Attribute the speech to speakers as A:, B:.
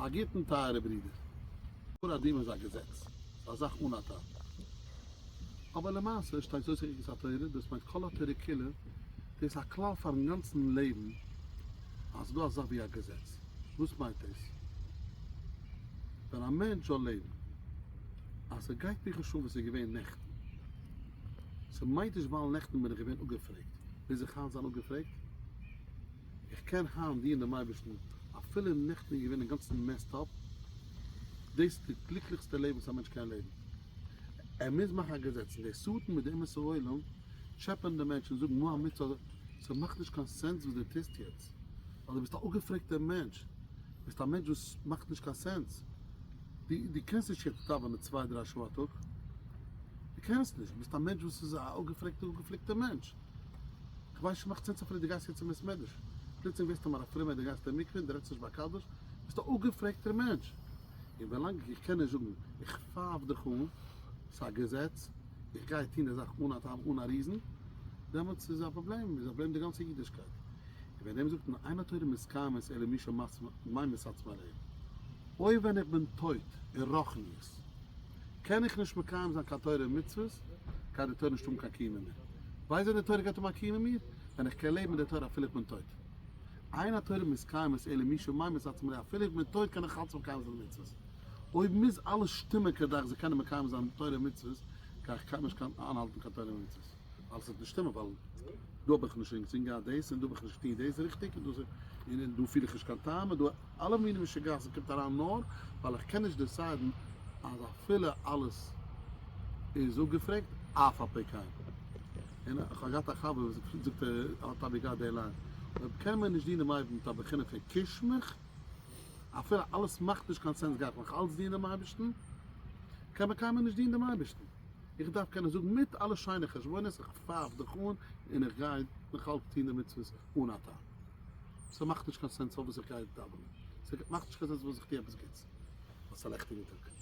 A: פארגוטן טייערע ברידער, פור אדום איז א געזעץ, א זאך אן א טעם. אבער למעשה שטייט זויס אין ערגעץ א תורה, דאס מיינט כל התורה כולה, דאס א כלל פארן גאנצן לעבן, אז ס'דא א זאך ווי א געזעץ. וואס מיינט דאס? ווען א מענטש זאל לעבן, אז ס'גייט מיר חשאן וואס איז געווען נעכטן, ס'מיינט נישט ווייל נעכטן בין איך געווען אפגעפרעגט, מוז איך היינט זיין אפגעפרעגט? איך קען היינט דינען דעם אייבערשטן אפילו אין נעכטן איז געווען אינגאנצן מעסד אפ, דאס איז די גליקליכסטע לעבן וואס א מענטש קען לעבן, ער מוז מאכן א געזעץ, און די שטן מיט די אמת'ע עולם טשעפען די מענטש און זאגן מה המצוה, ס'מאכט נישט קיין סענס וואס דו טוסט יעצט, ווייל דו ביסט א אפגעפרעגטער מענטש, ביסט א מענטש וואס מאכט נישט קיין סענס, דו דו קענסט נישט יעצט דאווענען צוויי דריי שעה א טאג, דו קענסט נישט, ביסט א מענטש וואס איז א אפגעפרעגטער אפגעפליקטער מענטש. כ'ווייס נישט, מאך צו צופרי די גאס יצא מבית מדרש, פלוצלינג ווערסטו מר א פרומער און די גייסט אין מקווה און די רעדסט נישט ביי א קדוש, ביסט א אפגעפרעגטער מענטש, און ווילאנג איך קען נישט זאגן איך פייף דיך אן, ס'איז א געזעץ, איך גיי טון די זאך אן א טעם אן א ריזן, דעמאלטס איז א פראבלעם, איז א פראבלעם די גאנצע אידישקייט. און ווען דעם זאגט מען אין התורה מסכימת אלא מי שמאי מסתמא עליהם, אוי ווען איך בין טויט אין רחניות. קען איך נישט מקיים זיין קיין תורה און מצוות, גייט די תורה נישט האבן קיין קיום אין מיר. ווייסט ווען די תורה גייט האבן א קיום אין מיר? ווען איך קען לעבן מיט די תורה אפילו איך בין טויט. עיין התורה מסקיימת אלא מי שמאמץ עצמו ל אפילו איך בין טויט קען איך אלץ מקיים זיין די מצוות. אויב מוז אלעס שטימען כדי איך זאל קענען מקיים זיין תורה און מצוות, גיי איך קיינמאל נישט קענען איינהאלטן קיין תורה און מצוות. ווייל ס'וועט נישט שטימען ווייל דא האב איך נישט אינגאנצן געהאט דאס און דא האב איך נישט געטון דאס ריכטיג און דאס און דא פיל איך נישט קיין טעם און דא אלע מיני משוגעת'ן קומט אריין נאר ווייל איך קען נישט דעסיידן אז אפילו אלעס איז אפגעפרעגט אף ע פ קיין און איך האב געהאט א חבר וואס פשוט זאגט ער האט אבי געהאט די ליין אויב קען מען נישט דינען דעם אייבערשטן מיט א בחינה פון קיש מיך אפילו אלעס מאכט נישט קיין סענס גיי איך נאך אלץ דינען דעם אייבערשטן קען מען קיינמאל נישט דינען דעם אייבערשטן. איך דארף קענען זאגן מיט אלע שיינע חשבונות איך פייף דיך אן און איך גיי נאך אלץ טון די מצוות אן א טעם. ס'מאכט נישט קיין סענס פארוואס איך גיי דאווענען, ס'מאכט נישט קיין סענס פארוואס איך טו עפעס גוטס. א שלעכטע מיטאג.